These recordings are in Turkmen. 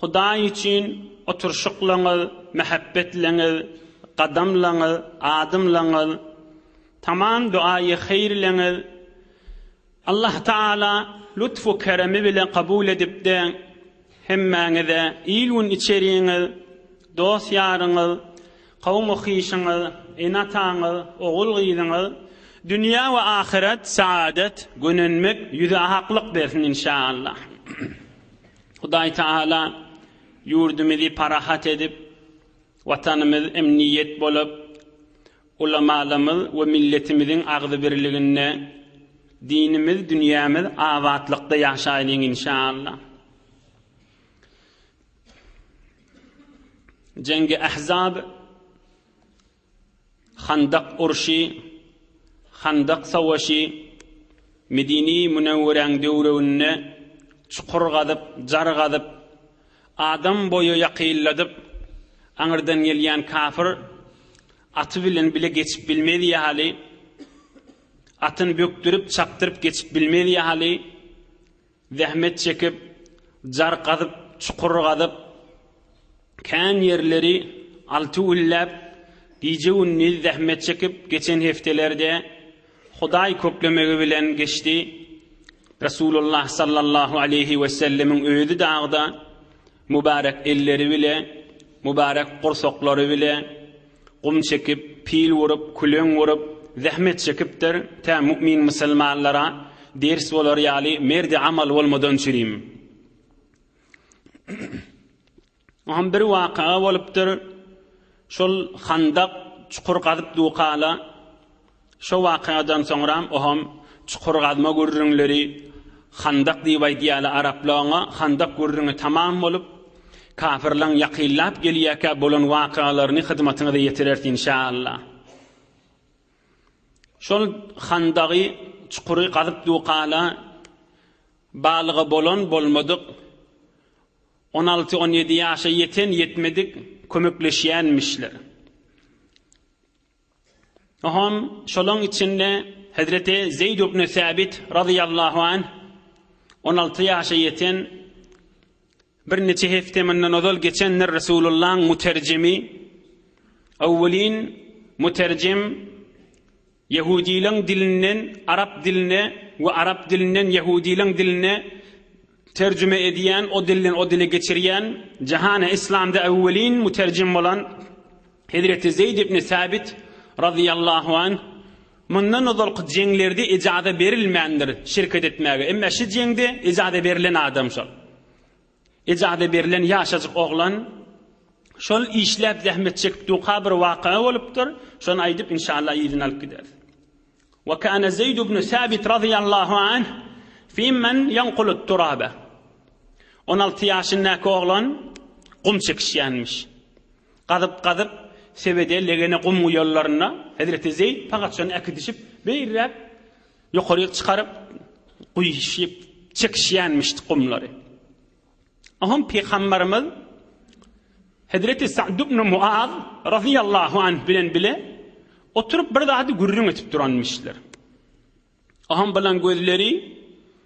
Hudaý üçin oturşyklaňyz, mähebbetleňiz, gadamlaňyz, adymlaňyz, tamam duaýy heýrleňiz. Allah Taala lutfu keremi bile kabul edipdi. Hemmäňize il-gün içeriňiz, dost-ýaryňyz, kawum-okyşyňyz, ene-ataňyz, ogul-gyzyňyz dünýä we ahyret saadet, gönenmek, ýüze aklyk bersin inşaallah. Hudaý Tagala ýurdumyzy parahat edip, Watanymyz emniýet bolup, ulamalymyz we milletimiziň agzybirliginde, dinimiz, dünýämiz abatlykda ýaşaýlyň inşaAllah. Jengi Ahzab Handak urşy, Handak sowaşy, Medini Münewweräň döwrüinde çukur gazyp, jar gazyp, adam boýy ýakylladyp, aňyrdan gelýän kafir aty bilen bile geçip bilmez ýaly, atyny bökdürip, çapdyryp geçip bilmez ýaly, Zähmet çekip, jar gazyp, çukur gazyp, kän ýerleri alty gülläp, gije-gündiz zähmet çekip geçen hepdeler-de Hudaý köklemegi bilen geçdi. Resulullah sallallahu aleýhi wesellemiň özi dagda mübärek elleri bile, mübärek gursaklary bile, Gum çekip, pil urup, küleň gurup, zähmet çekipdir, tä mu'min musulmanlara ders bolar ýaly merdi amal bolmadan çürim. Oňam bir waka bolupdyr, şol handak, çukur gazyp dukala, Şo wakadan soňram oham çukur gazma gürrüňleri Handak diýip aýdýala arapla oňa Handak gürrüňi tamam bolup kapyrlaň ýakynlap gelýäkä bolan wakalaryny hyzmatyňyza ýetireris inşallah. Şol handagy çukury gazyp dukala balygy bolan bolmadyk on alty on ýedi ýaşa ýeten ýetmedik kömekleşýänmişler. Oňam şolaň içinde Hezreti Zeýd ibn Säbit razyýallahu anh on alty ýaşa ýeten birniçe hepde mundan ozal geçendir Resulullaň muterjimi owwelin muterjim Ýehudileň dilinden arap diline we arap dilinden Ýehudileň diline terjime edýän o dilden o dile geçirýän jahana islamda owwelin muterjim bolan Hezreti Zeýd ibn Säbit, razyýallahu anh, Mundan ozalky jeňlerde ejaza berilmändir şirket etmäge, emma şu jeňde ejaza berlen adam şol. Ejaza berlen ýaşajyk oglan şol işläp zähmet çekip durka bir waka bolupdyr, şony aýdyp inşallah yzyny alyp gideris. Wa kana Zeýd ibn Sabit razyýallahu anh fi men ýankulut turaba. On alty ýaşyndaky oglan gum çekişýänmiş. Gazyp gazyp sebede legene gum guýanlarynda Hezreti Zeýd pagaçany äkidişip beýräk ýokaryk çykaryp guýşyp çekişýänmiş gumlary. Oňa Pygamberimiz Hezreti Sa'd ibn Mu'az radiyallahu anh bilen bile oturup bir zady gürrüň etip duranmyşlar. Oňa bilen gözleri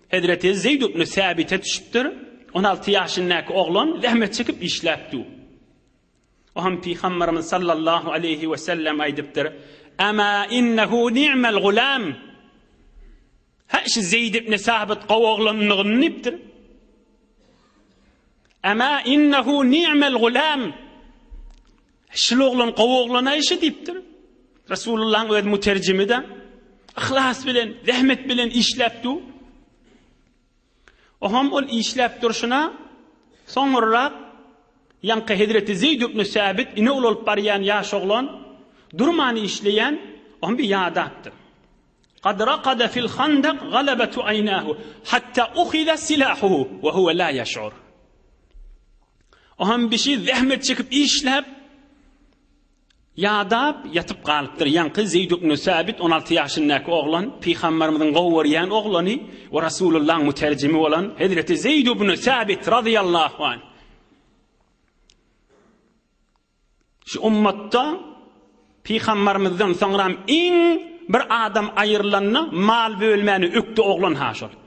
Hezreti Zeyd ibn Sabit'e düşüpdir. 16 ýaşyndaky oglan zähmet çekip işläpdi. O hem Pygamberimiz sallallahu aleýhi we sellem aýdypdyr, Ama innehu ni'mel gulam. He şu Zeýd ibn Sabit gowy oglandygyny diýipdir. Ama innehu ni'mel gulam. Şul oglan gowy oglana işi diýipdir. Resulullah'yň öz müterjimi de ihlas bilen, zähmet bilen işläpdi. Oňam ol işläp durşuna, soňurrak ýaňky hezreti Zeýd ibn Säbit ine ulalyp barýan ýaş oglan, durman işleýän, oňa bir ýady atdy. Kad rakada fil handak galabatu aýnahu hatta uhiza silahuhu we huwa la ýeş'ur. Oňam bişi zähmet çekip işläp, Ýadap ýatyp galypdyr. Ýaňky Zeýd ibn Sabit on alty ýaşyndaky oglan, Pygamberimiziň gowy görýän oglany we Rasulullahyň müterjimi bolan hezreti Zeýd ibn Sabit razyýallahu anh şu ummatda Pygamberimizden soňram iň bir adam aýyrylanda mal bölmäni ökdi oglan-ha şol.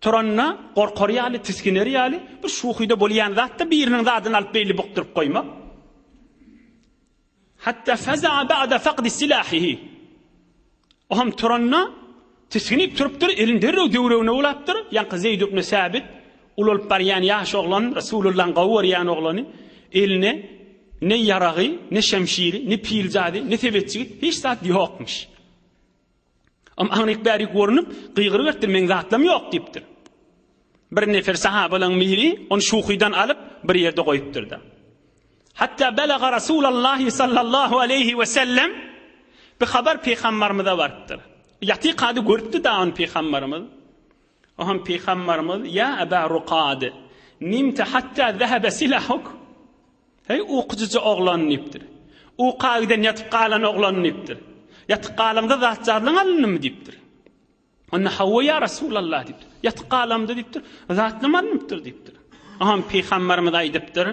Turanda gorkar ýaly, tisginer ýaly, bir şuhyda bolýan zat-da biriniň zadyny alyp beýle bukduryp goýmak. Hatda faza'a ba'da faqdi silahihi. O hem turanda tisginip turupdyr, elini derrew döwregine ulapdyr. Ýaňky Zeýd ibn Sabit ulalyp barýan ýaş oglan, Resulullahyň gowy görýän oglany, eline ne ýaragy, ne şemşiri, ne piljady, ne sebetjigi hiç zat ýokmuş. Am aňryk bärik görünip, gygyryp etdir, men zatlam ýok diýipdir. Bir nefer sahabalaň biri ony şuhydan alyp, bir ýerde goýupdyr-da. Hatda belaga Rasulullah sallallahu aleyhi we sellem bi habar peýgamberimize barypdyr. Ýaty kady görüpdi da ony peýgamberimiz. O hem peýgamberimiz ya Aba Ruqad nimte hatta zahaba silahuk. Heý, ukyjyja oglan! diýipdir. Uka giden ýatyp galan oglan! diýipdir. Ýatyp galaňda zat-jarlaň alyndymy? diýipdir. Onda Hawa, ýa Resulallah! diýipdir. Ýatyp galamda diýipdir, zatlam alnypdyr diýipdir. Oňa pygamberimiz aýdypdyr,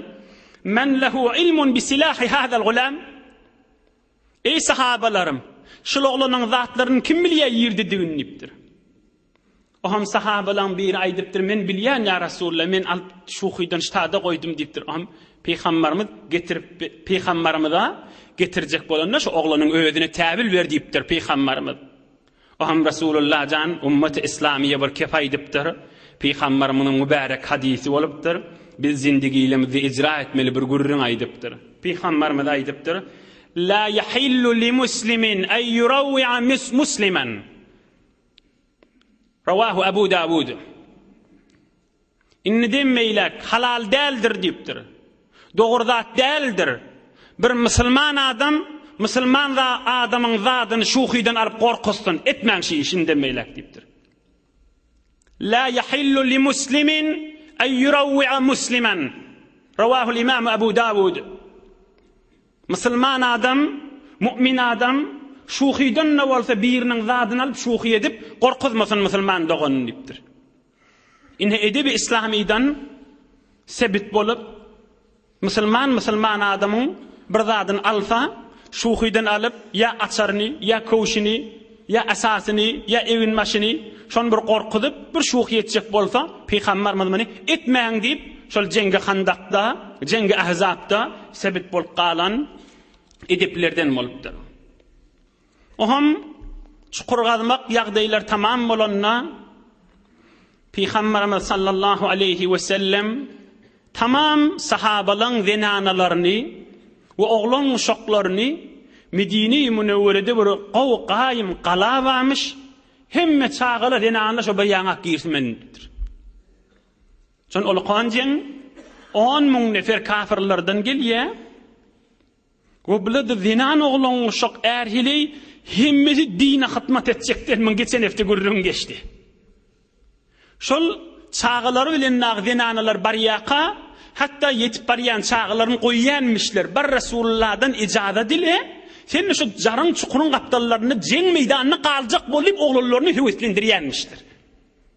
Men lehu ilmun bi silahi hazal gulam. Eý, sahabalarym! Şul oglanyň zatlaryny kim bilýär ýerdedigini? diýipdir. Oňam sahabalaň biri aýdypdyr, Men bilýän, ýa Resulalla, men alyp, şuhydan ştada goýdum diýipdir. Oňam Pygambarymyz getirip, Pygambarymyza getirjek bolanda, şu oglanyň özüne täbil ber diýipdir Pygambarymyz. Oňa Resulullah jan Ummaty Islamyýa bir kep aýdypdyr. Pygamberimiziň mübärek hadysy bolupdyr, Biz zindigilimizde ijra etmeli bir gürrüň aýdypdyr. Pygamberimiz aýdypdyr, La ýahillu li muslimin en ýurawwi'a musliman. Rawahu Abu Dawud. Indide meýläk halal däldir diýipdir. Dogry zat däldir. Bir musulman adam musulman za adamyň zadyny şuhydan alyp gorkuzsyn, etmäň şi işi indide meýläk diýipdir. La yahillu li muslimin en yurawwi'a musliman. Rawahul imam Abu Dawud. Musulman adam, mu'min adam şuhydan-da bolsa biriniň zadyny alyp şuhy edip gorkuzmasyn musulman doganyny diýipdir. Ine edebi yslamydan sebit bolup, musulman musulman adamyň bir zadyny alsa, şuhydan alyp, ýa açaryny, ýa köwşüni, ýa esasyny, ýa eginbaşyny, şony bir gorkuzyp, bir şuhy etjek bolsa, pygambarymyz muny etmäň diýip, şol jeňgi Handakda, jeňgi Ahzapda sebit bolup galan edeplerden bolupdyr. Ohum çukur gazmak ýagdaýlar tamam bolanda, Pygamberimiz sallallahu aleýhi we sellem tamam sahabalaň zenanalaryny we oglan uşaklaryny Medine-i Münewwerede bir gowy gaýym gala barmyş, hemme çagalar zenanlar şo bir ýaňak girsin bilen diýipdir. Şon ulukan jeň 10 müň nefer kafirlerden gelýär. We bile-de zenan oglan uşak är heleý hemmesi dine hytmat etjekler muň geçen hepde gürrüň geçdi. Şol çagalary bilen dagy zenanalar barýaka hatda ýetip barýan çagalaryny goýýanmişler bir Resululladan ijazat ile sen şu jaryň çukuryň gapdallarynda jeň meýdanyna galjak bol diýip oglanlaryny höweslendirýänmişler.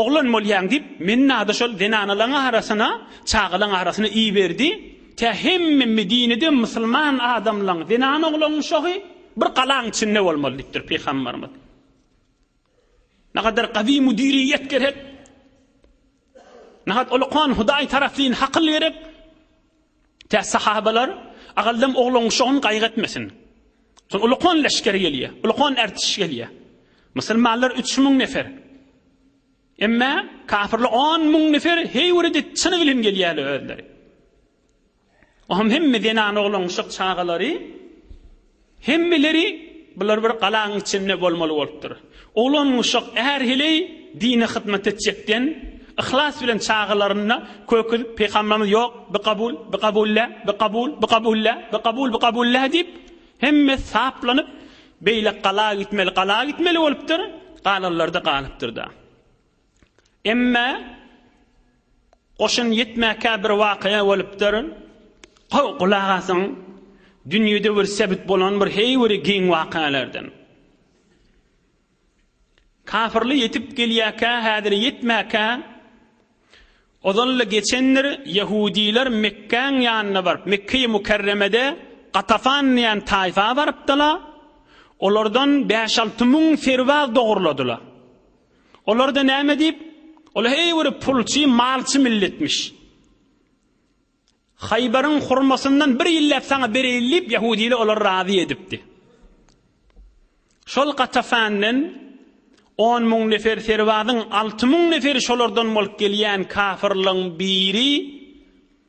Oglan bolýaň diýip, mennada şol zenanalaň arasyna, çagalaň arasyna iberdi. Tä hemme Medinede musulman adamlaň, zenan-oglanyň şohy bir galaň içinde bolmaly diýipdir Pygamberimiz. Nagadar gazy müdiriýet gerek. Nahat ulukan Hudaý tarapyn hakyl gerek. Tä sahabalar, Agaldam ogluň şo gün gaýgy etmesin. Şol ulkan leşger gelýär, ulkan ertiş gelýär. Musulmanlar üç müň nefer. Emma kafirler on müň nefer, heý biri çyny bilen gelýärler özleri. Oňam hemme zenan oglanşyk çagalary Hemmeleri bular bir galaň içinde bolmaly bolupdyr. Oglan guşak är heleý dine hyzmat etjekden yhlas bilen çagalaryna köküzip Pygamberimiz ýok bi kabul, bi kabullä, bi kabul, bi kabullä, bi kabul, bi kabullä diýip hemmesi saplanyp beýle gala gitmeli, gala gitmeli bolupdyr, galanlarda galypdyrda. Emma goşun ýetmäkä bir wakaýa bolupdyr. Gow gulak asyň. Dünýede bir sebit bolan bir heý bir giň wakaýalardan. Kafirli ýetip gelýäkä, häzir ýetmäkä ozalda geçendir ýehudiler Mekkäň ýanyna baryp, Mekkeýi Mukarremede Gatafan diýen taýfa barypdylar. Olardan bäş-alty müň serbaz dogurladylar. Olarda näme diýip? Ol heý bir pulçy, malçy milletmiş. Haýbaryň hurmasyndan bir ýylläp saňa bereýin diýip ýahudiler olary razy edipdi. Şol Gatafandan 10 müň nefer serwadyň 6 müň neferi şolardan bolup gelýän kafirligiň biri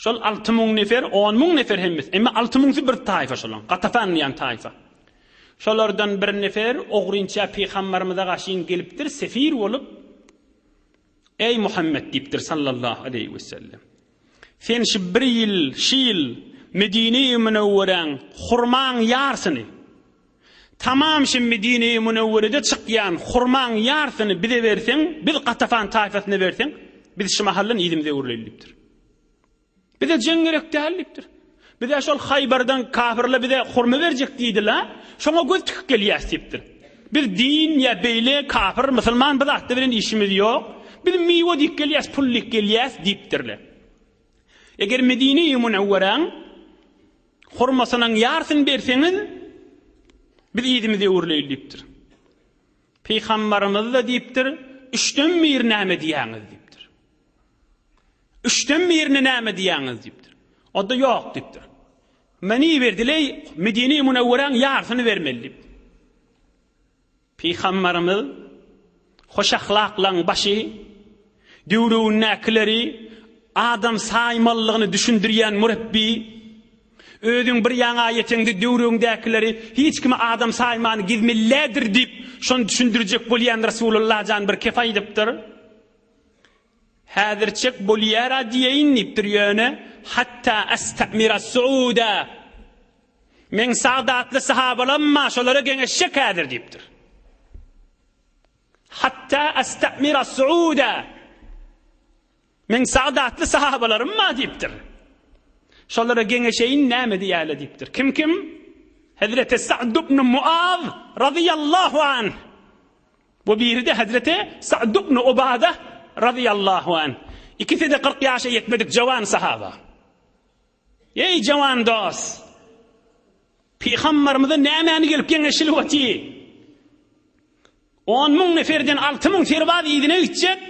Şol alty müň nefer, on müň nefer hemmes, emma alty müňsi bir taýfa şolaň, Gatafan diýen taýfa. Şolardan bir nefer ogrynça pygambarymyza gaşyn gelipdir, sefir bolup, Eý Muhammet diýipdir, sallallahu aleýhi we sellem, sen şu bir ýyl, şi ýyl Medine-i Münewweräň hurmaň ýarsyny, Tamam şimdi Dine-i Münewwerede çykýan hurmaň ýarsyny bize berseň, biz Gatafan taýfasyna berseň, biz şu mahaldan yzymyza öwrüleýin diýipdir. Bize jeň gerek däl diýipdir. Biz-ä şol Haýbardan kafirler bize hurma berjek diýdi-la, şoňa göz tikip gelýäs diýipdir. Biz din ýa beýle kafir, musulman bu zatlar bilen işimiz ýok. Biz miwe diýip gelýäs, pul diýip gelýäs diýipdirler. Eger Medine-i Münewweräň Hurmasynyň ýarysyny berseňiz, biz yzymyzy öwürleýin diýipdir. Pygambarymyz-da diýipdir, üçden biri näme diýýäňiz diýipdir. Üçden birini näme diýýäňiz diýipdir. Onda ýok diýipdir. Meni berdileý, Medine-i Münewweräň ýarysyny bermeli diýip. Pygamberimiz, Hoş ahlaklaryň başy, döwründäkileri adam saýmalydygyny düşündirýän mürepbi. Özüň bir ýaňa ýeteňde döwrüňdäkileri hiç kimi adam saýman gizmillädir diýip, şony düşündirjek bolýan Resulullah jan bir kep aýdypdyr. Häzirçek bolýara diýeýin diýipdir ýöne hatta astamira suuda meň sagdatly sahabalam bar şolara geňeşjek häzir diýipdir. Hatta astamira suuda meň sagdatly sahabalarym bar diýipdir. Şolara geňeşeýin näme diýäle diýipdir. Kim kim? Hezreti Sa'd ibn Muaz radiyallahu anh Bu biri-de hezreti Sa'd ibn Ubada razyýallahu an. Ikisi-de kyrk ýaşa ýetmedik jawan sahaba. Eý jawan dos! Pygambarymyza nämäni gelip geňeşilip oty? On müň neferden alty müň serbaz yzyna gitjek,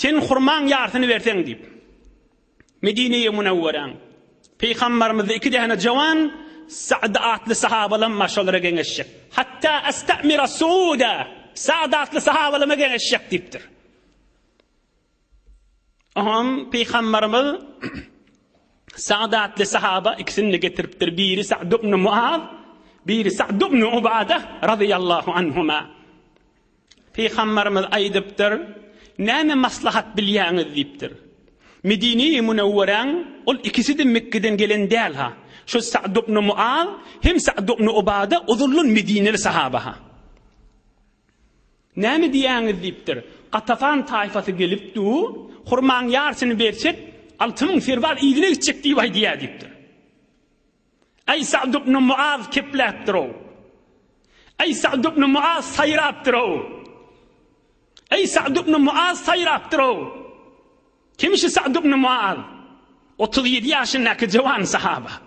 seniň hurmaň ýarsyny berseň diýip. Medine-i Munewweräň Pygambarymyzda iki däne jawan Sa'd atly sahabalam bar, şolara geňeşjek. Hatta asta'mira Su'uda, Sa'd atly sahabalama geňeşjek diýipdir. Oňam Pygambarymyz Sa'd atly sahaba ikisini getiripdir. Biri Sa'd ibn Mu'az, biri Sa'd ibn Ubada radiyallahu anhuma. Pygamberimiz aýdypdyr, Näme maslahat bilýäňiz? diýipdir. Medine-i Münewweräň ol ikisi-de Mekgeden gelen däl-ha. Şu Sa'd ibn Muaz hem Sa'd ibn Ubada ozaldan medineli sahaba-ha. Näme diýýäňiz? diýipdir. Gatafan taýfasy gelip du, Hurmaň ýarsyny bersek, alty müň serbaz yzyna gitjek diýip aýdýar diýipdir. Äý Sa'd ibn Muaz kepläpdir-ow! Äý Sa'd ibn Muaz saýrapdyr-ow! Äý Sa'd ibn Muaz saýrapdyr-ow! Kim şu Sa'd ibn Muaz? Otuz ýedi ýaşyndaky jowan sahaba.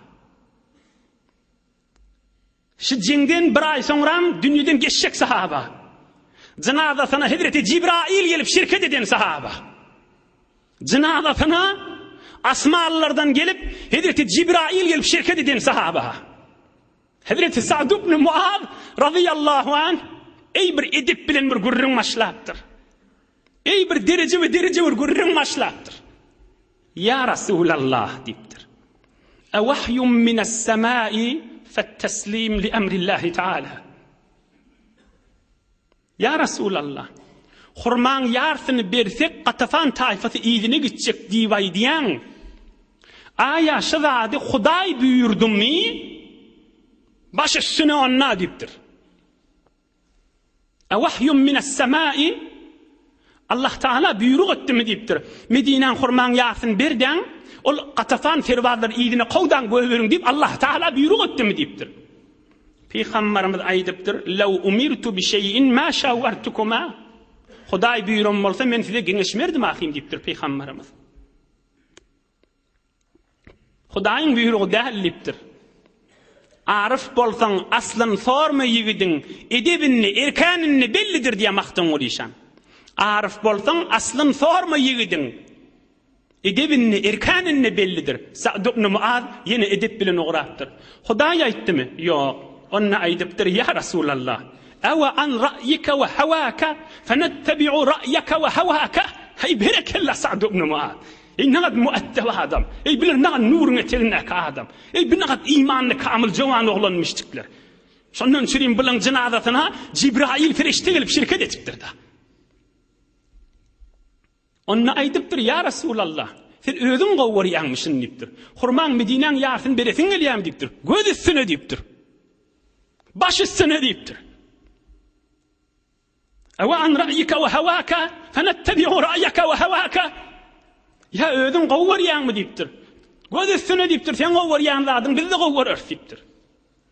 Şu jeňden bir aý soňram dünýeden geçjek sahaba. Jynazasyna hezreti Jibraýyl gelip şirket eden sahaba. Jynazasyna asmanlardan gelip, hezreti Jibraýyl gelip şirket eden sahaba. Hezreti Sa'd ibn Muaz radiyallahu anh eý bir edip bilen bir gürrüň başlapdyr. Eý bir dereje we dereje bir gürrüň başlapdyr. Ya Resulallah diýipdir. E wahyum minas semai feteslim li emrillahi taala. Ýa Resulallah! Hurmaň ýarsyny bersek Gatafan taýfasy yzyna gitjek diýip aýdýaň. Aýa şu zady Hudaý buýurdymy? Baş üstüne onda diýipdir. A wahyum minas samai? Allah Taala buýruk etdimi diýipdir. Medinäň hurmaň ýarsyny berdaň, ol Gatafan serbazlary yzyna kowdaň göýberiň diýip Allah Taala buýruk etdimi diýipdir. Pygambarymyz aýdypdyr, Lew umirtu bi şeýin ma şawwartukuma, Hudaý buýran bolsa, men size geňeşmerdim ahym diýipdir Pygambarymyz. Hudaýyň buýrugy däl diýipdir. Aryf bolsaň, aslyny sorma ýigidiň, edebini, erkänini bellidir diýýär Magtymguly şa. Aryf bolsaň, aslyny sorma ýigidiň. Edebinde, erkaninde bellidir. Sa'd ibn Muaz ýene edep bilen ugrapdyr. Hudaý aýtdymy? Ýok. Onda aýdypdyr, Ýa Resulallah! Awa an ra'yika we hawaka fenettabi'u ra'yaka we hawaka! Heý, berekella, Sa'd ibn Muaz! Eý, nähak muaddep adam! Eý, bular nähak nuruň etegindäki adam! Eý, bu nähak imanly kamyl jowan oglanmyşdikler! Şondan üçinem bularyň jynazasyna Jibraýyl perişde gelip şirket etipdir-dä. Onda aýdypdyr, Ýa Resulallah! Sen özüň gowy görýäňmişin diýipdir. Hurmaň Medinäň ýarysyny beresiň gelýärmi diýipdir. Göz üstüne diýipdir. Baş üstüne diýipdir. Ewa an ra'yika we hawaka fenettabi'u ra'yaka we hawaka. Ýa özüň gowy görýäňmi diýipdir. Göz üstüne diýipdir. Sen gowy görýän zadyň biz-de gowy göreris diýipdir.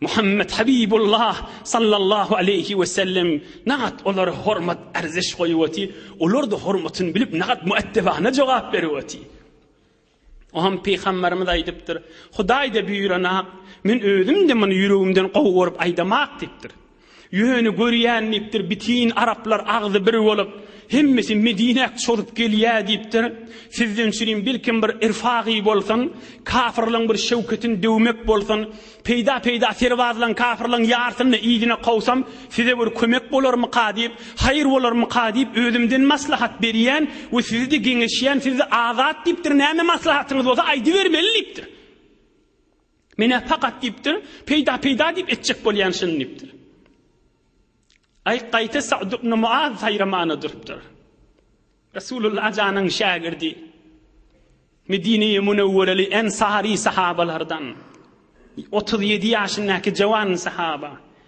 Muhammet Habibullah sallallahu aleýhi wesellem nagat olara hormat arziş goýup oty, olar-da hormatyny bilip nagat müeddebana jogap berip oty. Oňam Pygamberimiz aýdypdyr, Hudaý-da buýranap, men özüm-de muny ýüregimden gowy görüp aýdamak diýipdir. Ýöne görýän diýipdir, bitin araplar agzy bir bolup, hemmesi Medinäk çozup gelýä diýipdir. Sizden sürin bilkim bir irfagy bolsun, kafyrlaň bir şewketin döwmek bolsun. Peýda-peýda serbazlaň, kafyrlaň ýarsyny yzyna kowsam, size bir kömek bolarmyka diýip, haýyr bolarmyka diýip özümden maslahat berýän we sizi-de geňeşýän, siz-de azat diýipdir, näme maslahatyňyz bolsa aýdybermeli diýipdir. Men-ä pakat diýipdir, peýda-peýda diýip etjek bolýan şuny diýipdir. Aý, gaýta Sa'd ibn Muaz saýramana durupdyr. Resulullah janyň şägirdi. Medine-i Münewwereli ensary sahabalardan. Otuz ýedi ýaşyndaky jawan sahaba.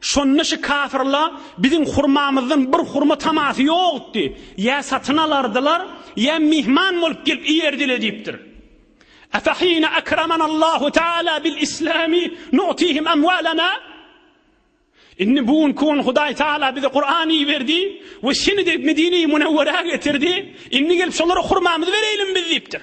Şonda şu kafirla biziň hurmamyzdan bir hurma tamasy ýokdy. Ýa satyn alardylar, ýa myhman bolup gelip iýerdiler diýipdir. Efahina akraman Allahu taala bil islami nu'tihim amwalana Indi bu gün kun Hudaý Taala bize Kur'an iberdi we şini de Medine-i Munawwara getirdi. Indi gelip şolara hurmamyzy bereýlim biz diýipdir.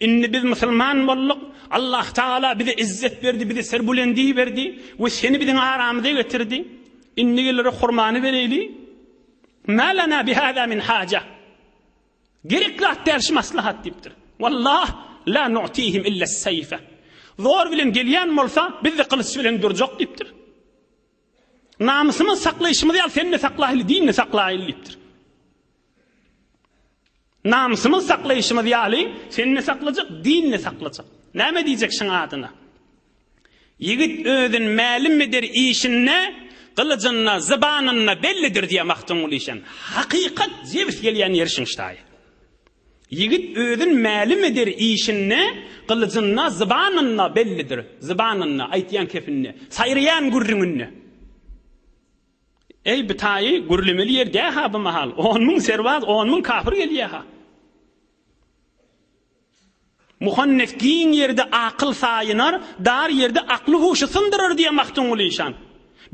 Indi biz musulman bolduk. Allah Taala bize izzet berdi, bize serbulendi berdi we seni biziň aramyza getirdi. Indi geleri hurmany bereli. Malana bi hada min haja. Gerek zat däl şu maslahat diýipdir. Wallah la nu'tihim illa sayfa. Zor bilen gelýän bolsa, biz de gylyç bilen durjak diýipdir. Namysymyz saklaýşymyz ýaly sen de saklaýly, dinni saklaýly diýipdir. Namysymyzy saklaýşymyz ýaly, seni-de saklajak, dini-de saklajak. Näme diýjek şuň adyna? Ýigit özün mälim eder işinde, gylyjynda, zybanynda bellidir diýýär Magtymguly şem. Hakykat jebis gelýän ýeri şuň ştaýy. Ýigit özün mälim eder işinde, gylyjynda, zybanynda bellidir. Zybanynda, aýtýan kepinde, saýraýan gürrüňinde. Eý, bu taýy gürlemeli ýer dä-ha bu mahal. On müň serbaz, on müň kapyr gelýä-ha. Muhannes giň ýerde akyl saýynar, dar ýerde akly-huşy syndyrar diýýä Magtymguly işan.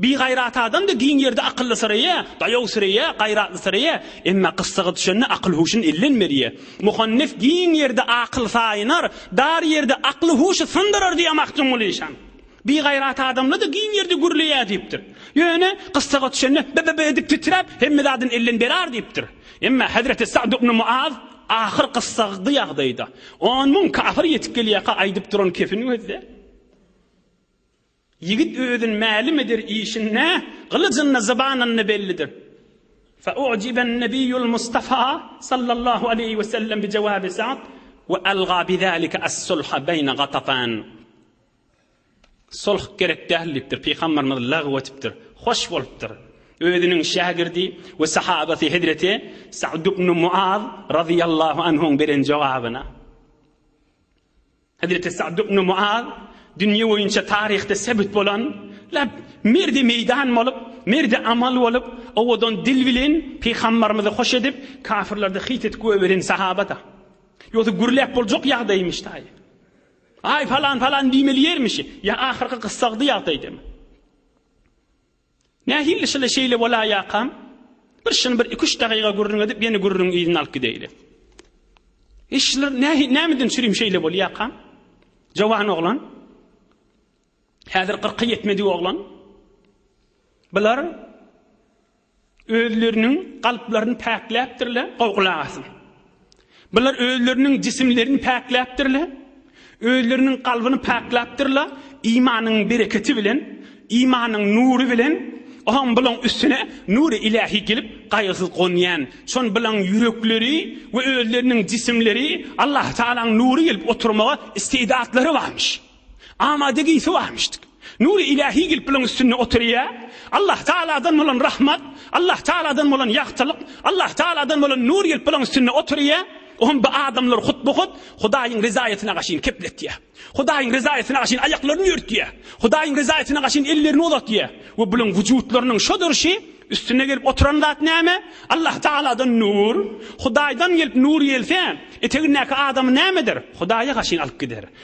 Bigaýrat adam-da giň ýerde akyllysyrýa, daýawsyrýa, gaýratlysyrýa, emma gyssaga düşende akyl-huşun elden berýä. Muhannes giň ýerde akyl saýynar, dar ýerde akly-huşy syndyrar diýýä Magtymguly işan. Bigaýrat adamla-da giň ýerde gürleýär diýipdir. Ýöne, gyssaga düşende, bi-bi-bi edip titräp, hemme zadyny elden berar diýipdir. Emma hezreti Sa'd ibn Muaz ahyr gyssagykly ýagdaýda, on müň kafir ýetip gelýärka aýdyp duran kepin gözle, Ýigit özün mälim eder işin nä, gylyjynda zybanynda bellidir. Fa'u'jiben Nebiyyul Mustafa sallallahu aleýhi we sellem bi jawabi Sa'd we alga bi zalika as-sulha beýne Gatafan. Sulh gerek däl diýipdir. Pygamberimiz lagyw etipdir. Hoş bolupdyr. Özüniň şägirdi we sahabasy hezreti Sa'd ibn Muaz razyýallahu anhuň beren jogabyna. Hezreti Sa'd ibn Muaz dünýe boýunça taryhda sebit bolan lep merdi meýdan bolup, merdi amal bolup, owadan dil bilen pygamberimizi hoş edip, kafirlerde hyýt edip göberen sahaba-da. Ýogsa gürläp boljak ýagdaýmyş taýy. Aý, palan, palan diýmeli ýermişi, ýa ahyrky gyssagdy ýagdaýdamy? Nähili şyly şeýle bolaýakam? Bir şyny bir iki-üç dagyga gürrüň edip, ýene gürrüň yzyny alyp gideýli. E şylar nähi, nämeden sürim şeýle bolýakam? Jowan oglan. Häzir kyrka ýetmedik oglan. Bular Özleriniň kalplaryny päkläpdirler, gowy gulak asyň. Bular özleriniň jisimlerini päkläpdirler, özleriniň kalbyny päklapdyrlar, imanyň bereketi bilen, imanyň nury bilen, ohaň bulaň üstüne nury ilahi gelip gaýgysyz gonýan, şon bulaň ýürekleri we özleriniň jisimleri Allah Taalaň nury gelip oturmaga istidatlary barmyş. Amada giysi barmyşdyk. Nury ilahi gelip bulan üstünde oturya. Allah Taaladan bolan rahmat, Allah Taaladan bolan yagtylyk, Allah Taaladan bolan nur gelip bulan üstünde oturya. Ohm bu adamlar hutbu hut Hudaýyň ryzaýatyna gaşyn kepletýä. Hudaýyň ryzaýatyna gaşyn aýaklaryny ýörtýä. Hudaýyň ryzaýatyna gaşyn ellerini uzatýä. We bulaň wujutlarynyň şu durşy üstüne gelip oturan zat näme? Allah Taaladan nur. Hudaýdan gelip nur gelse, etegindäki adamy nämedir? Hudaýa gaşyn alyp gider.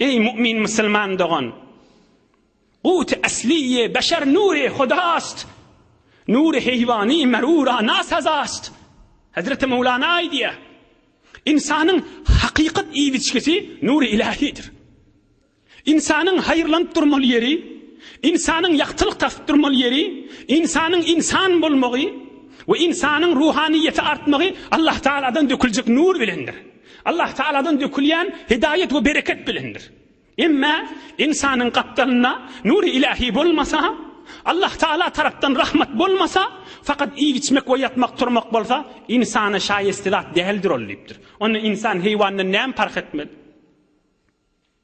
Eý mu'min musulman dogan! Gute asliye beşer nure hudast, nure heýwany merura nasazast. Hezreti Mowlana aýdýar, Ynsanyň hakykat iýip-içgisi nury ilahidir. Ynsanyň haýyrlanyp durmaly ýeri, ynsanyň ýagtylyk tapyp durmaly ýeri, ynsanyň ynsan bolmagy we ynsanyň ruhanyýeti artmagy Allah Tagaladan döküljek nur bilendir. Allah Tagaladan dökülýän hidaýat we bereket bilendir. Emma ynsanyň gapdalynda nury ilahi bolmasa, Allah Tagala tarapdan rahmat bolmasa, fakat iýip-içmek we ýatmak-turmak bolsa, ynsana şaýeste zat däldir ol diýipdir. Onda ynsan heýwandan näme parh etmeli?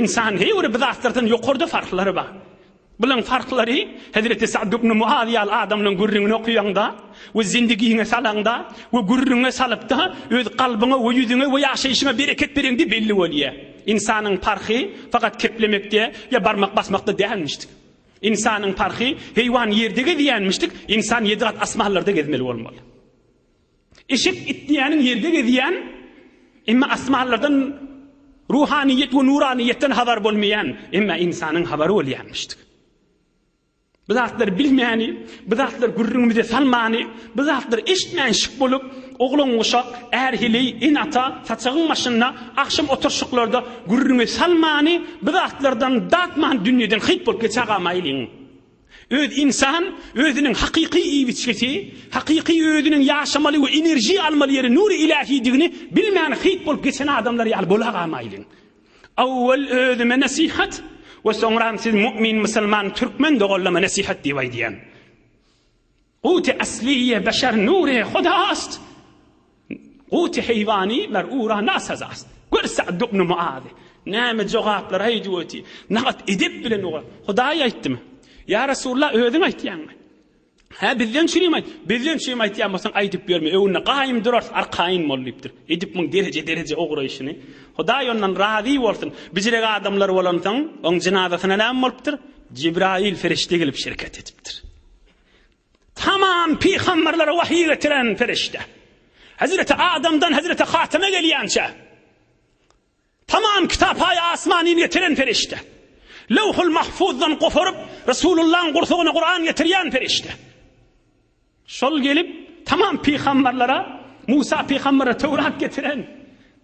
Ynsan her bir zatlardan ýokarda farklary bar. Bulaň farklary Hezreti Sa'd ibn Muaz ýaly adamlaň gürrüňini okaýaňda we zindigiňe salaňda we gürrüňe salypda öz kalbyňa we ýüzüňe we ýaşaýşyňa bereket bereňde belli bolýar. Ynsanyň parhy fakat keplemekde ýa barmak basmakda dälmişdik. Ynsanyň parhy heýwan ýerde gezýänmişdik, ynsan ýedi gat asmanlarda gezmeli bolmaly. Eşek itleýäniň ýerde gezýän, emma asmanlardan ruhanyýet we nuranyýetden habar bolmaýan, emma ynsanyň habary bolýarmyşdy. Bu zatlary bilmäni, bu zatlary gürrüňimize salmany, bu zatlary eşitmän şyk bolup, oglan-guşak, är-heleý, ene-ata, saçagyň başynda, agşam oturşyklarda gürrüňe salmany, bu zatlardan datman dünýeden hyt bolup geçägamaýlyň. Öz ynsan özüniň hakyky iýbiçgesi, hakyky özüniň ýaşamaly we enerjiýa almaly ýeri nury ilähidigini bilmän hyýt bolup geçen adamlar ýaly bolagamaýlyň. Owwal özüme nesihat we soňram siz mu'min musulman türkmen doganlama nesihat diýip aýdýan. Guty asliýe beşer nure huda ast, Guty heýwani mer ura na saza ast. Gör Sa'd ibn Muazy näme jogaplar aýdyp oty, nagat edep bilen oňa Hudaý aýtdymy? Ýa Resulullah özüň aýtýaňmy? Hä bizden çürim aýt, bizden çürim aýtýan bolsaň aýdyp ýörme öňünde gaýym durarys arkaýyn bol diýipdir. Edip muň dereje dereje ugraýşyny Hudaý ondan razy bolsun bijirek adamlar bolansoň oň jynazasyna näme bolupdyr? Jibraýyl perişde gelip şereket edipdir. Tamam pygamberlere wahyy getiren perişde. Hezreti Adamdan Hezreti Hateme gelýänçä. Tamam kitap aýa asmanyny getiren perişde. Lewhul Mahfuzdan goparyp Resulullahyň gursagyna Kuran getirýän perişde. Şol gelip tamam pygamberlere Musa pygambere Tewrat getiren.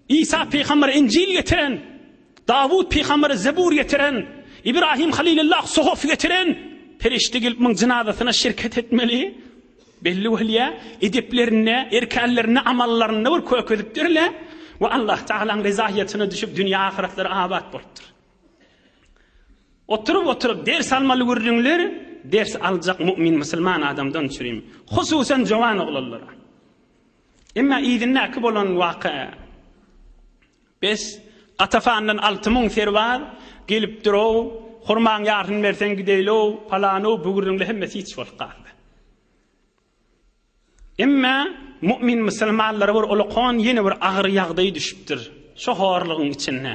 Isa pygamber Injil getiren, Dawut pygamber Zebur getiren, Ibrahim Halilullah Suhuf getiren perişde gelip muň jynazasyna şirket etmeli. Belli bolýar, edeplerinde, erkänlerinde, amallarynda bir kök edipdirler we Allah Tagalaň rezaýatyna düşüp dünýä ahyretlary abat bolupdyr. Oturyp oturyp ders almaly gürrüňler ders aljak mu'min musulman adamdan çürim. Hususan jowan oglanlara. Emma yzyndäki bolan waka, Bes, gatafandan alty müň serbaz gelip dur-ow, hurmaň ýarysyny berseň gideýli-ow, palan-ow, bigürrüňli hemmesi hiç bolup galdy. Emma mu'min musulmanlara bir ulakon ýene bir agyr ýagdaý düşüpdir, şo horlugyň içinde.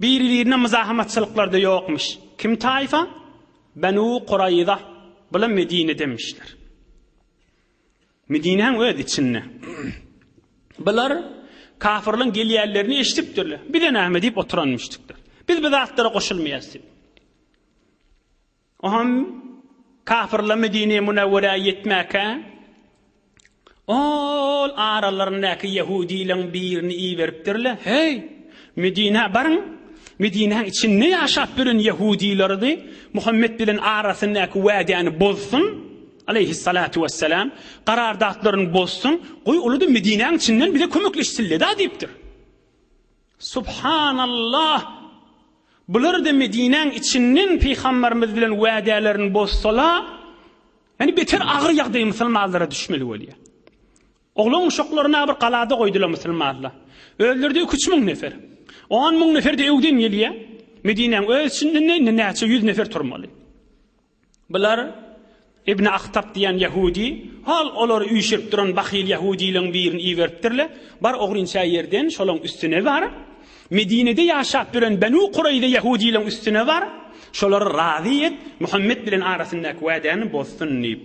Biri-birine myzahamatçylyklar-da ýokmuş. Kim taýfa? Benu Kuraýza. Bula Medine demişler. Medinäň öz içinde. Bular kafirleň gelýänlerini eşidipdirler. Bize näme diýip oturanmyşdyklar. Biz bu zatlara goşulmaýarys diýip. Oňam kapyrlar Medinä Münewwerä ýetmäkä, ol aralaryndaky ýehudileriň birini iberipdirler, Heý, Medinä baryň! Medinäň içinde ýaşap ýören ýehudileridi, Muhammet bilen arasyndaky wädäni bozsun, aleýhissalatu wessalam, garardatlaryny bozsun, goý, ol-da Medinäň içinden bize kömekleşsin-le-da diýipdir. Subhanallah! Bular-da Medinäň içinden Pygamberimiz bilen wädälerini bozsala, ýani beter agyr ýagdaý musulmanlara düşmeli bolýar. Oglan-uşaklaryny-a bir galada goýdular musulmanlar. Özleri-de iki-üç müň nefer. On müň nefer-de öwden gelýär. Medinäň öz içinde-de indi näçe ýüz nefer turmaly. Bular Ibn Ahtab diýen ýahudi, al, olar üýşürip duran bahyl ýahudileň birini iberipdirle, bar ogrynça ýerden şolaň üstüne bar, Medinede ýaşap ýören Benu Kureýza ýahudileň üstüne bar, şolary razy et, Muhammet bilen arasyndaky wädäni bozsun diýip.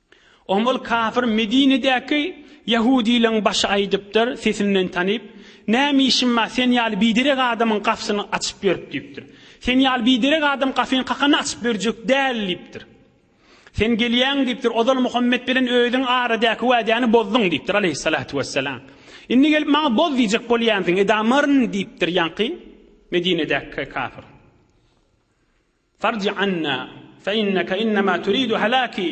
Oňa ol kafir Medinedäki ýahudylaryň başy aýdypdyr, sesinden tanyp, Näme işiň bar, sen ýaly biderek adamyň gapysyny açyp ýörüp diýipdir. Sen ýaly biderek adam gapyny kakanda açyp berjek däl diýipdir. Sen gelýäň diýipdir, ozal Muhammet bilen özüň aradäki wädäni bozduň diýipdir, aleýhissalatu wessalam. Indi gelip maňa boz diýjek bolýansyň, edamyryn diýipdir ýaňky Medinedäki kafir. Farj anna, fe inneke innema turidu helaki,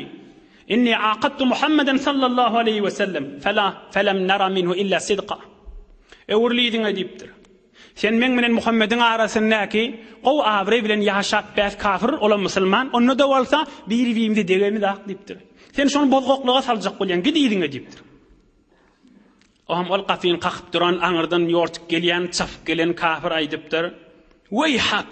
inni aqadtu Muhammeden sallallahu aleýhi we sellem, fela, felem nara minhu illa sidqa. Öwrül yzyňa diýipdir. Sen meň bilen Muhammediň arasyndaky gowy abraý bilen ýaşap bäs kafir, olam musulman, onda-da bolsa biri-birimize degemizak diýipdir. Sen şony bozgaklyga saljak bolýaň, git yzyňa diýipdir. Oňam ol gapyny kakyp duran aňyrdan ýortup gelýän, çapyp gelen kafir aýdypdyr, Weýhak!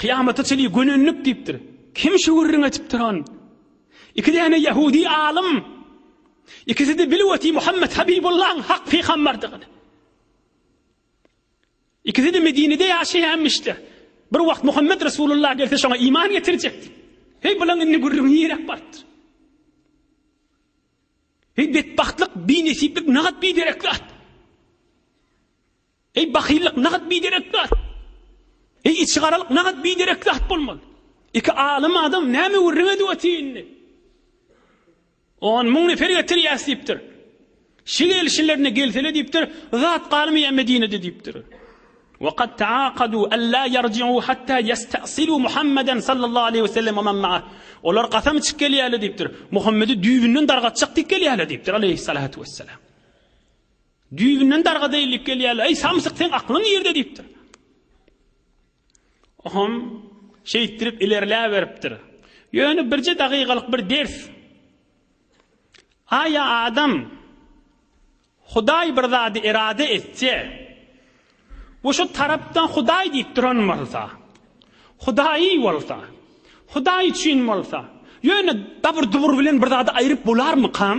Kyýamata çenli gönenlik diýipdir. Kim şu gürrüňi etipdir on? Iki däne ýahudi alym. Ikisi-de bilweti Muhammet Habibullaň hak pygamberdigini. Ikisi-de Medinede ýaşaýanmyşlar. Bir wagt Muhammet Resulullah gelse şoňa iman getirjekdi. Heý bulaň indi gürrüňi nirek barypdyr? Heý betbagtlyk, binesiplik nagat biderek zat. Eý, bahyllyk nagt biderek zat. Eý, içigaralyk nagt biderek zat bolmaly. Iki alym adam näme gürrüň edip otyr indi? On müň nefer getirýäs diýipdir. Şu gelişlerine gelsele diýipdir, zat galmaýar Medinede diýipdir. Wa kad taakadu alla yarji'u hatta yastasilu Muhammeden sallallahu aleyhi ve sellem men ma'ah. Olar kasam içip gelýärler diýipdir. Muhammedi düýbünden dargatjak diýip gelýärler diýipdir aleyhissalatu vesselam. Düýbünden darga deýilip gelýärler. Eý, samsyk, seň aklyň nirde diýipdir. Ohm şeýtdirip ilerläberipdir. Ýöne birje dagygalyk bir ders. Aý, adam Hudaý bir zady erade etse, bu şu tarapdan Hudaý diýip duran bolsa, Hudaýy bolsa, Hudaý üçin bolsa, ýöne dabur-dubur bilen bir zady aýryp bolarmykam?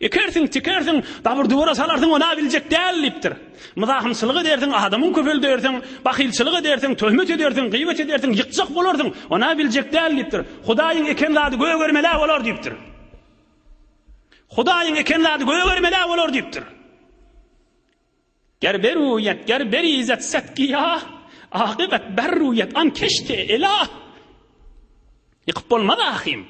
Ekersiň, tikersiň, dabur-dubura salarsyň, ony-a biljek däl, diýipdir. Myzahymçylyk edersiň, adamyň köpeldersiň, bahylçylyk edersiň, töhmet edersiň, gyýbat edersiň, ýykjak bolarsyň, ony-a biljek däl, diýipdir. Hudaýyň eken zady gögermel-ä bolar, diýipdir. Hudaýyň eken zady gögermel-ä bolar, diýipdir. Ger beruýet, ger berizet set giýa, Akybat berruýet an keşte ela. Ýykyp bolmaz ahym.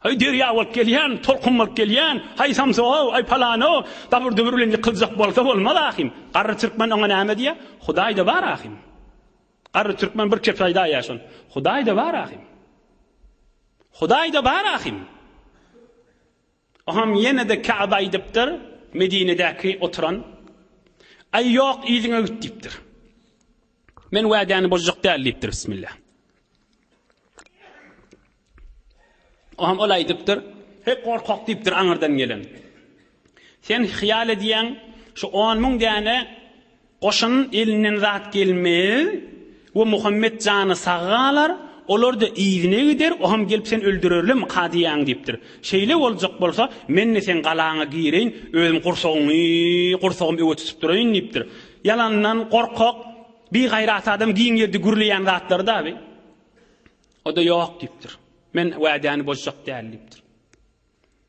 Haý derýa bolup gelýän, tolkun bolup gelýän, haý samsyg-ow, aý palan-ow, dabur-dubur bilen ýykyljak bolsa bolmaz ahym. Garry türkmen oňa näme diýýär? Hudaý-da bar ahym. Garry türkmen bir kepri aýdaýýar şony. Hudaý-da bar ahym. Hudaý-da bar ahym. Oham ýene-de Käbä aýdypdyr, Medinedäki oturan, Aý, ýok, yzyňa git diýipdir. Men wädäni bozjak däl diýipdir, Bismillah. Oham ol aýdypdyr, Heý, gorkak diýipdir aňyrdan gelen. Sen hyýal edýäň, şu on müň däne Goşunyň elinden zat gelmez we Muhammet jany sag galar, olar-da yzyna gider, oham gelip seni öldürerlermi, ka diýýäň diýipdir. Şeýle boljak bolsa, men-de seň galaňa gireýin, özüm gursagyňy, gursagym öe tutup duraýyn diýipdir. Ýalandan gorkak, bigaýrat adam giň ýerde gürleýän zatlary dabi. O-da ýok diýipdir. Men wädäni bozjak däl diýipdir.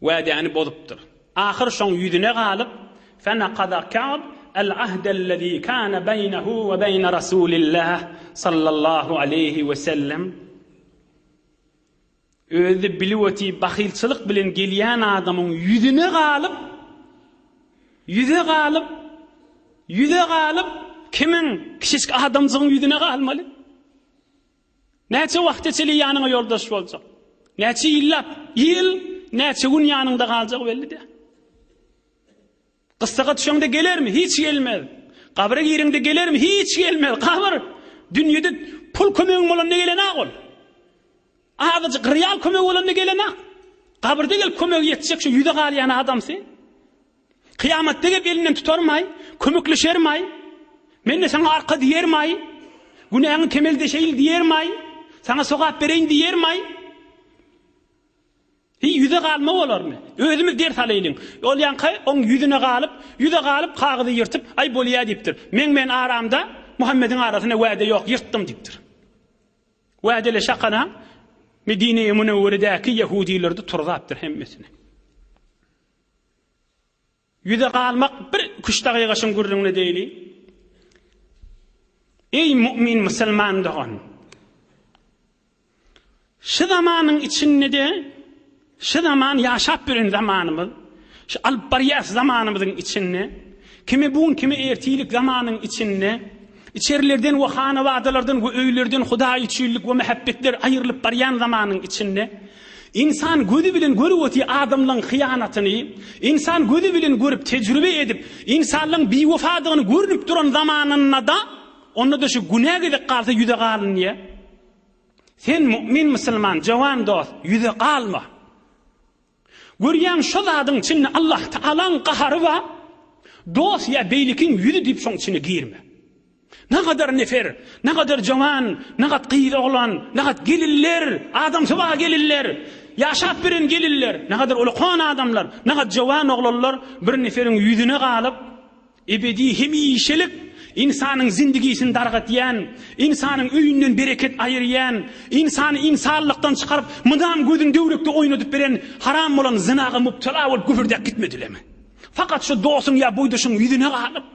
Wädäni bozupdyr. Ahyr şoň ýüzüne galyp, Fenakada Ka'b el-ahdellezî kâne beýnehu we beýne Resûlillah sallallahu aleýhi we sellem, Özi bilip otýy bahylçylyk bilen gelýän adamyň ýüzüne galyp, ýüze galyp, ýüze galyp, kimiň, kişisk adamjygyň ýüzüne galmaly? Näçe wagta çenli ýanyňa ýoldaş boljak? Näçe ýyllap? Ýyl näçe gün ýanyňda galjak belli däl. Gyssaga düşeňde gelermi? Hiç gelmez. Gabra gireňde gelermi? Hiç gelmez. Gabyr dünýede pul kömegiň bolanda gelenäk ol. Azajyk real kömegi bolanda gelenäk. Gabyrda gelip kömegi ýetjek şu ýüze galýan adam sen. Kyýamat degip elinden tutarmaý, kömekleşermaý, Men-de saňa arka diýermaý, günäňi kemeldeşeýin diýermaý, saňa sogap bereýin diýermaý? Hiý, ýüze galma bolarmy? Özümiz ders alaýlyň. Olýanka oň ýüzüne galyp, ýüze galyp, kagyzy ýyrtyp, Aý, bolýa diýipdir. Meň men aramda, Muhammediň arasynda wäde ýok, ýyrtdym diýipdir. Wädeli şakana Medine-i Münewweredäki ýehudileri-de turzapdyr hemmesini. Ýüze galmak bir iki-üç dagyga şuň gürrüňini edeýli. Eý mu'min musulman dogan! Şu zamanyň içinde-de, şu zaman ýaşap ýören zamanymyz, şu alyp barýas zamanymyzyň içinde, kimi bu gün, kimi ertirlik zamanyň içinde, Içerilerden we hanawadalardan we öýlerden hudaýüçillik we mähebbetler aýrylyp barýan zamanyň içinde, ynsan gözi bilen görüp otyr adamlaň hyýanatyny, ynsan gözi bilen görüp, tejribe edip, ynsanlaň biwefadygyny görnüp duran zamanynda-da, onda-da şu günä gezek galsa ýüze galynýa. Sen, mu'min musulman, jowan dost, ýüze galma! Görýäň şo zadyň içinde Allah Tagalaň gahary bar dos ýa beýlekiň ýüzi diýip şoň içine girme. Nagadar nefer, nagadar jowan, nagat gyz oglan, nagat gelinler, adamsyba gelinler, ýaşap beren gelinler, nagadar ulakon adamlar, nagat jowan oglanlar bir neferiň ýüzüne galyp, Ebedi, hemişelik ynsanyň zindigisini dargadýan, ynsanyň öýünden bereket aýyrýan, ynsany ynsanlykdan çykaryp, mydam gözüni döwrekde oýnadyp beren haram bolan zynaga mubtela bolup gübürdäp gitmedilemi? Fakat şu dosuň ýa boýdaşyň ýüzüne galyp,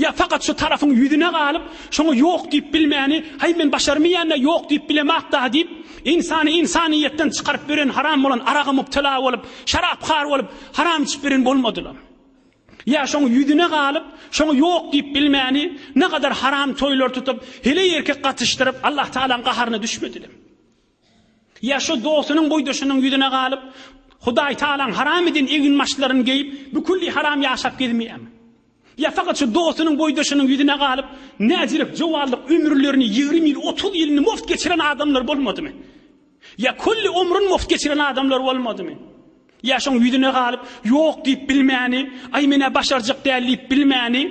ýa fakat şu tarapyň ýüzüne galyp, şoňa ýok diýip bilmäni, haý men başarmaýan-da, ýok diýip bilemok-da diýip, ynsany ynsanyýetden çykaryp beren haram bolan araga mubtela bolup, şarapkar bolup, haram içip beren bolmadylamy? Ýa şoň ýüzüne galyp, şoňa ýok diýip bilmäni, ne gadar haram toýlar tutup, heleý erkek gatyşdyryp, Allah Tagalaň gaharyna düşmedilem. Ýa şo dostunyň boýdaşynyň ýüzüne galyp, Hudaý Tagalaň haram eden eginbaşlaryny geýip, bükülli haram ýaşap gezmeýämi? Ýa fakat şu dostunyň boýdaşynyň ýüzüne galyp, näzirek jowanlyk ömürlerini ýigrimi ýyl, otuz ýylyny mugt geçiren adamlar bolmadymy? Ýa külli ömrün mugt geçiren adamlar bolmadymy? Ýa şoň ýüzüne galyp, ýok diýip bilmäni, aý men-ä başarjak däl diýip bilmäni,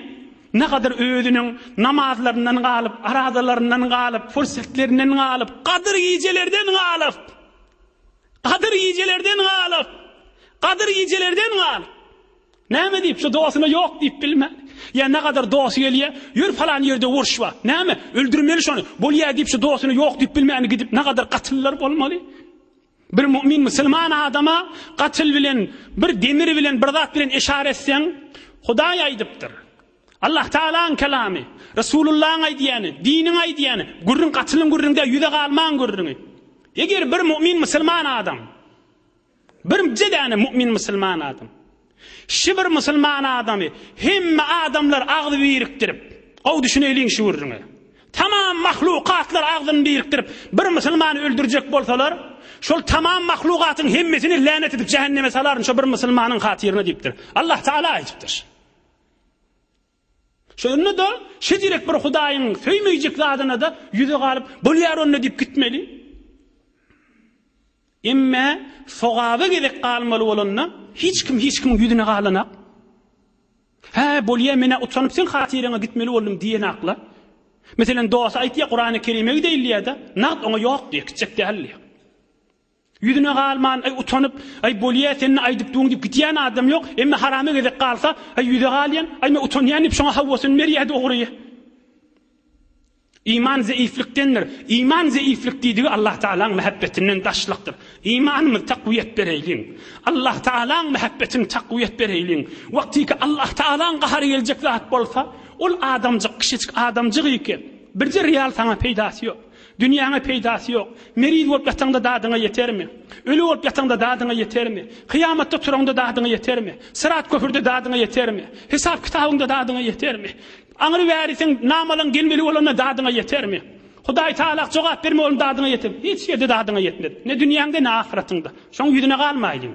nagadyr özüniň namazlaryndan galyp, arazalaryndan galyp, pursetlerinden galyp, gadyr gijelerden galyp, gadyr gijelerden galyp, gadyr gijelerden galyp. Näme diýip, şu dosyna ýok diýip bilmän. Ýa nagadar dosy gelýä, ýör falan ýerde urş bar. Näme, öldürmeli şony. Bolýa diýip, şu dosyna ýok diýip bilmän gidip nagadar gatyllar bolmaly. Bir mu'min musulman adama gatyl bilen, bir demir bilen, bir zat bilen eşar etseň, Hudaý aýdypdyr. Allah Taalaň kelamy, Resulullaň aýdýany, diniň aýdýany, gürrüň gatylyň gürrüňde ýüze galmaň gürrüňi. Eger bir mu'min musulman adam Birnje däne mu'min musulman adam. Şi bir musulman adamy hemme adamlar agzy birikdirip, gowy düşüneýliň şu gürrüňe. Tamam mahlukatlar agzyny birikdirip bir musulmany öldürjek bolsalar, şol tamam mahlukatyň hemmesini länet edip jähenneme salaryn şo bir musulmanyň hatyryna diýipdir. Allah Taala aýdypdyr. Şonda-da şejirek bir Hudaýyň söýmeýjek zadyna-da ýüzi galyp, Bolýar onda diýip gitmeli. Emme sogaba gezek galmaly bolanda, hiç kim hiç kimiň ýüzüne galanak. Hä, bolýa, men-ä utanyp seň hatyryňa gitmeli boldum diýenak-la. Meselem, dosty aýtýar, Kurany Kerime gideýin diýýär-de, nagt oňa ýok diýýär, gitjek däl diýýär. Ýüzüne galman, Aý, utanyp, Aý, bolýa, sen-de aýdyp duň diýip gitýän adam ýok. Emma harama gezek galsa, Aý, ýüze galýan, Aý, men utanýan diýip şoňa hawasyny berýä dogry. Iman zeýiflikdendir. Iman zeýiflik diýdigi Allah Tagalaň mähebbetinden daşlykdyr. Imanymyz takwyýet bereýliň. Allah Tagalaň mähebbetini takwyýet bereýliň. Wagtyky Allah Tagalaň gahary geljek zat bolsa, ol adamjyk, kiçijik adamjygyky. Birje real saňa peýdasy ýok. Dünýäňe peýdasy ýok. Meriz bolup ýataňda dadyňa ýetermi? Öli bolup ýataňda dadyňa ýetermi? Kyýamatda turaňda dadyňa ýetermi? Syrat köprüde dadyňa ýetermi? Hesap kitabyňda dadyňa ýetermi? Aňry bäri seň namalaň gelmeli bolanda dadyňa ýetermi? Hudaý Tagala jogap berme bolanda dadyňa ýetermi? Hiç ýerde dadyňa ýetmez. Ne dünýäňde ne ahyratyňda. Şoň ýüzüne galmaýlyň.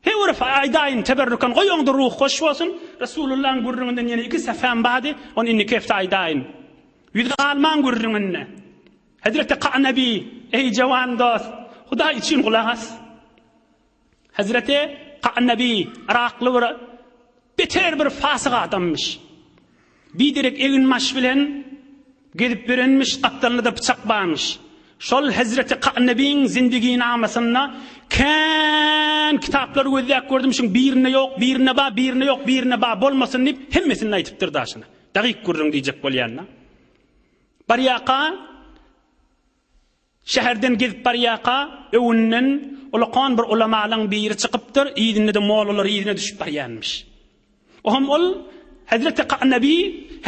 He urf aýdaýyn teberrükan goý oňda ruh hoş bolsun Resulullaň gürrüňinden ýene iki sefäm bady ony indiki hepde aýdaýyn ýüz galmaň gürrüňine Hezreti Kanabi eý jawan dost Hudaý üçin gulak as Hezreti Kanabi yrakly bir beter bir fasyk adamymyş. Bir derek eginbaş bilen gezip ýörenmiş, gapdalynda-da pyçak barmyş. Şol Hezreti Ka'nebiň Zindiginamasyna kän kitaplar gözläp gördüm, şuň birinde ýok, birinde bar, birinde ýok, birinde bar bolmasyn diýip, hemmesinde aýdypdyr daşyna. Dagyk gürrüň diýjek bolýan-da. Barýarka, Şäherden gezip barýarka, öňünden ulakan bir ulamalaryň biri çykypdyr, yzynda-da mollalar yzyna düşüp barýarmyş. Oňam ol, Hezreti Kanabi,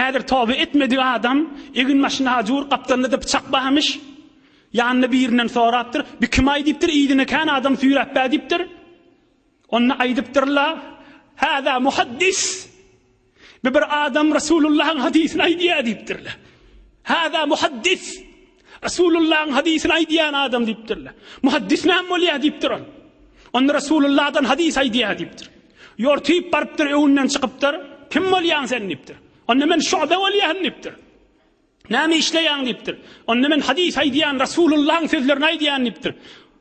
häzir toba etmedik adam, eginbaşynda hajur, gapdalynda-da pyçak barmyş. Ýanynda birinden sorapdyr, Bu kim-aý diýipdir, yzyna kän adam süýräp bä diýipdir. Onda aýdypdyr-la, Haza muhaddis! Bu bir adam Resulullah'ın hadisini aýdýar diýipdirler. Hada muhaddis. Resulullah'ın hadisini aýdýan adam diýipdirler. Muhaddis näme bolýar diýipdir ol. Onda Resulullah'dan hadis aýdýar diýipdir. Ýortyp barypdyr, öwünden çykypdyr. Kim bolýaň sen diýipdir. Onda men şuada bolýan diýipdir. Näme işleýäň diýipdir. Onda men hadis aýdýan Resulullah'ın sözlerini aýdýan diýipdir.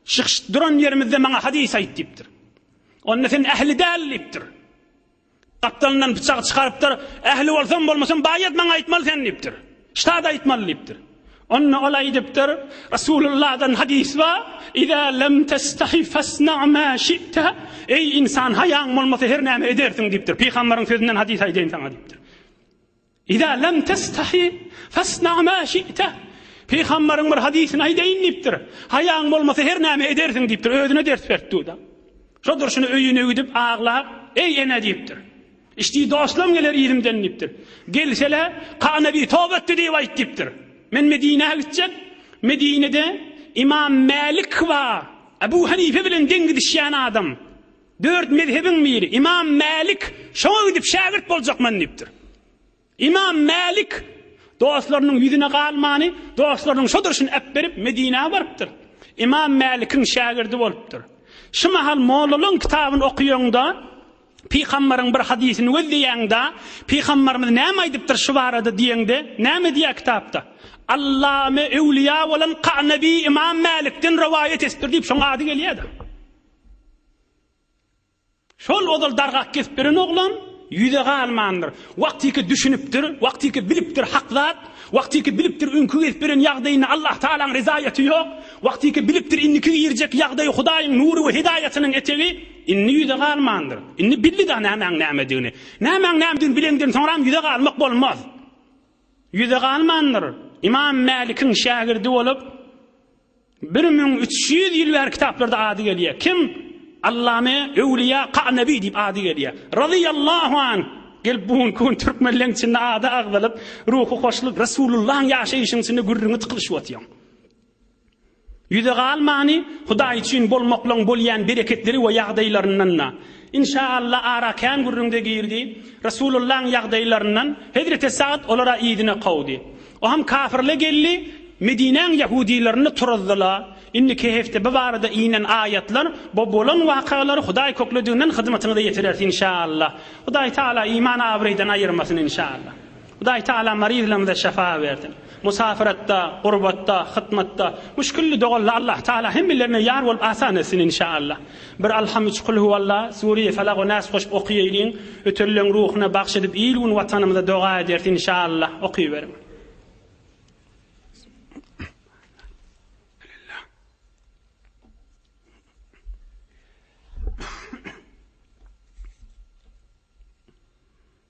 Şyh duran ýerimizde maňa hadis aýt diýipdir. Onda sen ähli däl diýipdir. Gapdalyndan pyçagy çykarypdyr. Ähli bolsam, bolmasam, baýat maňa aýtmaly sen diýipdir. Ştada aýtmaly diýipdir. Onda ol aýdypdyr, Rasulullahdan hadys bar, Iza lem testahi fasna ma şi'te, Eý, ynsan, haýaň bolmasa, her näme edersiň diýipdir. Pygamberiň sözünden hadys aýdaýyn saňa diýipdir. Iza lem testahi fasna ma şi'te. Pygambaryň bir hadysyny aýdaýyn diýipdir. Haýaň bolmasa her näme edersiň diýipdir. Özüne ders beripdüda. Şo durşuna öýüne gidip aglap, eý ene diýipdir. Işdi dostlam geler yzymdan diýipdir. Gelsele Ka nebi toba etdi diýip aýt diýipdir. Men Medinä gitjek. Medinede Imam Mälik bar. Abu Hanife bilen deň gidişýän adam. Dört mezhebiň miri Ymam Mälik şoňa gidip şägirt boljakman diýipdir. Ymam Mälik dostlarynyň ýüzüne galmany, dostlarynyň şo durşuny äpberip Medinä barypdyr. Ymam Mälikiň şägirdi bolupdyr. Şu mahal mollalaryň kitabyny okaýaňda, pygambaryň bir hadysyny gözleýäňda, pygambarymyz näme aýdypdyr şu barada diýeňde, näme diýýär kitapda? Allame öwlüýa bolan Kanabi Ymam Mälikden rowaýat etipdir diýip şoň ady gelýär-de. Şol ozal dargak kesip beren oglan ýüze galmandyr. Wagtyky düşünipdir, wagtyky bilipdir hak zat, wagtyky bilipdir öňki gezip beren ýagdaýynda Allah Tagalaň rezaýaty ýok, wagtyky bilipdir indiki girjek ýagdaýy Hudaýyň nury we hidaýatynyň etegi, indi ýüze galmandyr. Indi bildi-de nämäň nämedigini. Nämäň nämedigini bilenden soňram ýüze galmak bolmaz. Ýüze galmandyr. Ymam Mälikiň şägirdi bolup. Bir müň üç ýüz ýyl bäri kitaplarda ady gelýär. Kim? Allame Öwlüýa Ka'nebi diýip ady gelýär. Razyýallahu anh! Gelip bu günki gün türkmen leň içinde ady agzalyp, ruhy hoşluk, Resulullahyň ýaşaýşyň içinde gürrüňi tykylyşyp otyň. Ýüze galmany Hudaý üçin bolmaklygyň bolýan bereketleri we ýagdaýlaryndan-da. Inşa Allah ara kän gürrüňde girdi. Resulullahyň ýagdaýlaryndan Hezreti Sa'd olara yzyna kowdy. Oham kafirle geldi, Medinäň ýahudilerini turuzdyla. Indiki hefte bu barada inen aýatlar bo bolan wakalar Hudaý köklediginden hyzmatyňyza ýetirers inşa Allah. Hudaý Taala iman abraýdan aýyrmasyn inşa Allah. Hudaý Tagala maryzlarymyza şyfa bersin. Musafiratda, gurbatda, hytmatda, müşgilli doganlar Allah Tagala hemmelerine ýar bolup asan etsin inşaallah. Bir Alham üç Kulhuwalla, Sureýi Felak we Nas goşup okyýeýliň. Ötelileň ruhuna bagş edip il gün watanymyza doga ederis inşaallah. Okyberiň.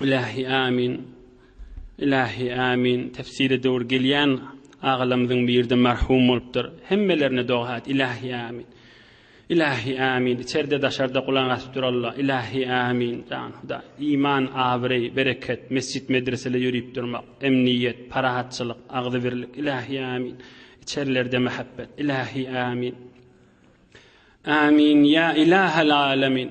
Ilahi Amin Ilahi Amin Tefsire döwür gelýän Agalamyzyň birde merhum bolupdyr Hemmelerine doga et Ilahi Amin Ilahi Amin içerde daşarda gulak asyp dur Allah Ilahi Amin Jan Hudaý iman abyreý bereket mesjit medresele ýörip durmak emniýet parahatçylyk agzybirlik Ilahi Amin içerlerde mehebbet Ilahi Amin Amin ýa Ilahal Alamin